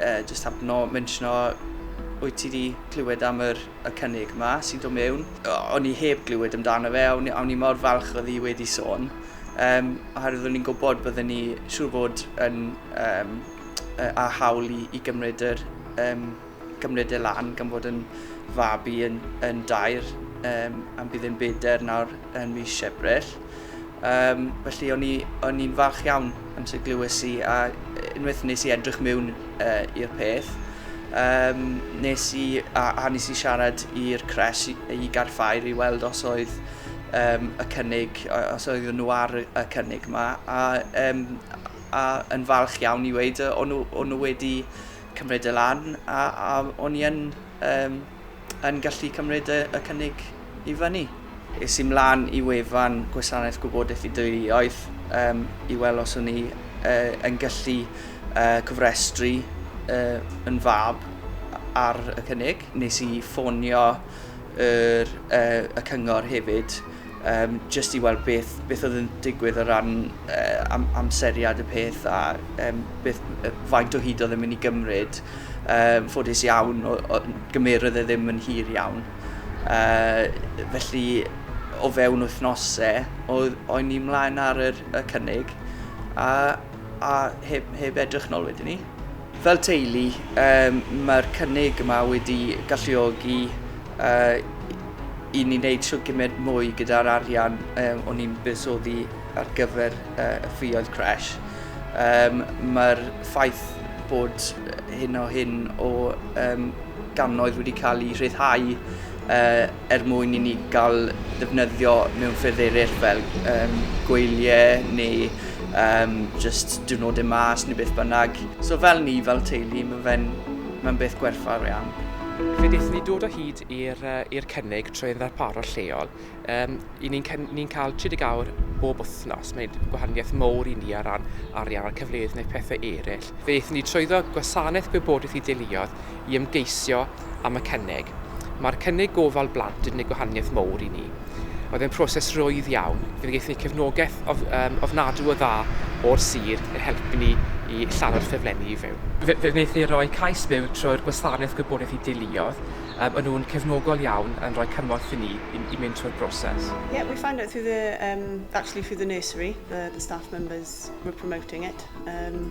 Jyst hapno menshno wyt ti 'di clywed am yr y cynnig 'ma sy'n dod mewn? O'n i heb glywed amdano fe a o'n a o'n i mor falch oedd hi wedi sôn yym oherwydd o'n i'n gwybod bydden ni siŵr fod yn yym yy â hawl i i gymryd yr yym gymryd e lan gan fod yn fab i yn yn dair yym am bydd e'n beder nawr yn mis Ebrill. Yym, felly o'n i o'n i'n falch iawn amser glywes i a unwaith nes i edrych mewn uh, i'r peth, um, nes i, a, a nes i siarad i'r cres i, i garffair i weld os oedd um, y cynnig, os oedd nhw ar y cynnig yma, a, um, a yn falch iawn i weid, o'n nhw, nhw wedi cymryd y lan, a, a o'n i yn um, yn gallu cymryd y y cynnig i fyny. Es i 'mlaen i wefan Gwasanaeth Gwybodaeth y Deuluoedd um, i weld os o'n i uh, yn gallu uh, cofrestru uh, yn fab ar y cynnig. Nes i ffonio yr, uh, y cyngor hefyd um, jyst i weld beth, beth oedd yn digwydd o ran uh, am, amseriad y peth a um, beth, uh, faint o hyd oedd yn mynd i gymryd. Um, ffodus iawn, o, o, gymerodd e ddim yn hir iawn. Uh, felly, o fewn wythnosau, oedd o'n ni mlaen ar yr, y cynnig a, a heb, heb edrych nôl wedyn ni. Fel teulu, mae'r cynnig yma wedi galluogi i ni wneud shwt gymaint mwy gyda'r arian o'n ni'n buddsoddi ar gyfer y ffioedd crèche. Mae'r ffaith bod hyn o hyn o gannoedd wedi cael eu rhyddhau yy er mwyn i ni gael defnyddio mewn ffyrdd eraill fel um, gweiliau neu um, just diwrnodau mas neu beth bynnag. So fel ni, fel teulu, mae fe'n mae beth gwerthfawr iawn. Fe wnaethon ni dod o hyd i'r uh, cynnig trwy'n ddarparwr lleol. Um, I ni'n ni cael 30 awr bob wythnos. Mae'n gwahaniaeth mowr i ni ar ran arian a'r cyfleoedd neu pethau eraill. Fe wnaethon ni trwyddo gwasanaeth gwybodaeth i deuluodd i ymgeisio am y cynnig. Mae'r cynnig gofal blant yn gwneud gwahaniaeth mowr i ni. Oedd e'n proses rwydd iawn. Fe gaethon ni cefnogaeth of, um, ofnadw o dda o'r sir yn helpu ni i lladdor ffeflenni i fyw. Fe, fe wnaethon ni roi cais byw trwy'r gwasanaeth gwybodaeth i deuluoedd. Um, o'n nhw'n cefnogol iawn yn rhoi cymorth i ni i, i mynd trwy'r broses. Yeah, we found out through the, um, actually through the nursery, the, the staff members were promoting it. Um,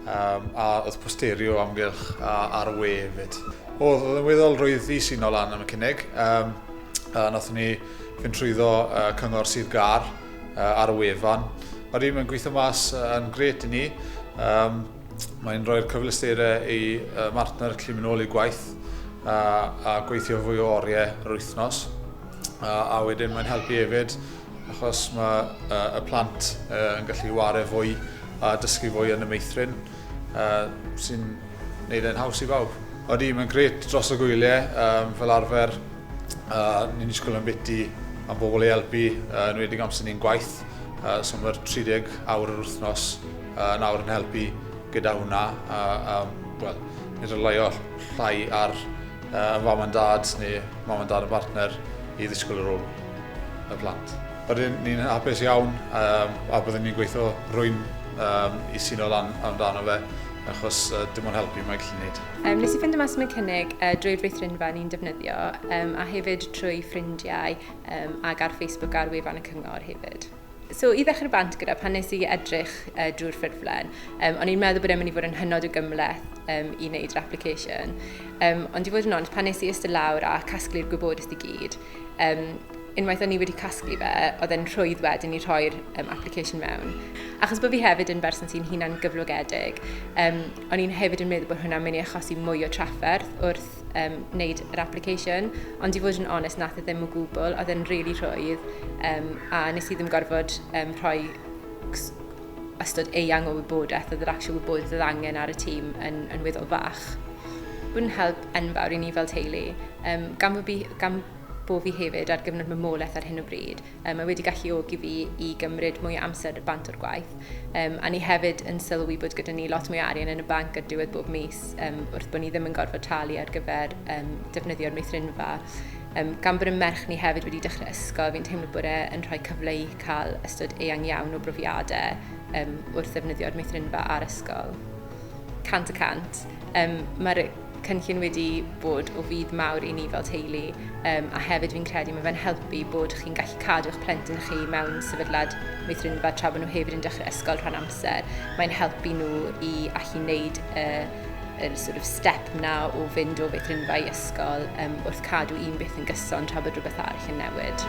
Yym a oedd posterio o amgylch a ar y we efyd. Oedd, oedd yn weddol rwyddus i nol lan am y cynnig. Yym a nathon ni fynd trwyddo uh, cyngor Sir Gar uh, ar y wefan. Mae rhywun yn gweithio mas uh, yn gret i ni. Um, Mae'n rhoi'r cyfleusterau i uh, martner clim yn ôl i gwaith a, a gweithio fwy o oriau yr wythnos. A, a wedyn mae'n helpu hefyd achos mae y plant yn gallu ware fwy a dysgu fwy yn y meithrin, sy'n gwneud e'n haws i bawb. Oeddi, mae'n gret dros y gwyliau, um, fel arfer, uh, ni'n disgwyl yn biti am bobl ei helpu, uh, yn wedi amser ni'n gwaith, uh, so mae'r 30 awr yr wythnos uh, yn awr yn helpu gyda hwnna, a, a well, ni'n rhylio llai ar uh, mam a dad neu mam a dad y partner i ddisgwyl yr ôl. y plant. Rydyn ni'n hapus iawn um, a byddwn ni'n gweithio rwy'n um, i sy'n o lan amdano fe, achos uh, dim ond helpu mae gallu gwneud. Um, nes i ffeindio mas am y cynnig uh, drwy'r feithrinfa ni'n defnyddio, um, a hefyd trwy ffrindiau um, ac ar Facebook ar wefan y cyngor hefyd. So, i ddechrau bant gyda, pan nes i edrych uh, drwy'r ffurflen, um, o'n i'n meddwl bod e'n mynd i fod yn hynod o gymleth um, i wneud yr application. Um, ond i fod yn ond, pan nes i ystod lawr a casglu'r gwybodaeth i gyd, um, unwaith o'n i wedi casglu fe, oedd e'n rhwydd wedyn i rhoi'r um, application mewn. Achos bod fi hefyd yn berson sy'n hunan gyflogedig, um, o'n i'n hefyd yn meddwl bod hwnna'n mynd i achosi mwy o trafferth wrth um, wneud yr application, ond i fod yn onest, nath e ddim o gwbl, oedd e'n really rhwydd, um, a nes i ddim gorfod um, rhoi ystod eang o wybodaeth oedd yr actual wybodaeth oedd angen ar y tîm yn, yn weddol fach. Bw'n help enfawr i ni fel teulu, um, gan, bo fi, gan bo fi hefyd ar gyfnod mamolaeth ar hyn o bryd, Um, mae wedi galluogi fi i gymryd mwy o amser bant o'r gwaith. Um, a ni hefyd yn sylwi bod gyda ni lot mwy o arian yn y banc ar diwedd bob mis um, wrth bod ni ddim yn gorfod talu ar gyfer um, defnyddio'r meithrinfa. Um, gan bod y merch ni hefyd wedi dechrau ysgol, fi'n teimlo bod e'n rhoi cyfle i cael ystod eang iawn o brofiadau um, wrth ddefnyddio'r meithrinfa a'r ysgol. Cant y cant. Um, Mae'r cynllun wedi bod o fudd mawr i ni fel teulu um, a hefyd fi'n credu mae fe'n helpu bod chi'n gallu cadw eich plentyn chi mewn sefydliad meithrinfa tra bod nhw hefyd yn dechrau ysgol rhan amser. Mae'n helpu nhw i allu wneud y, y sort of step na o fynd o feithrinfa i ysgol um, wrth cadw un beth yn gyson tra bod rhywbeth arall yn newid.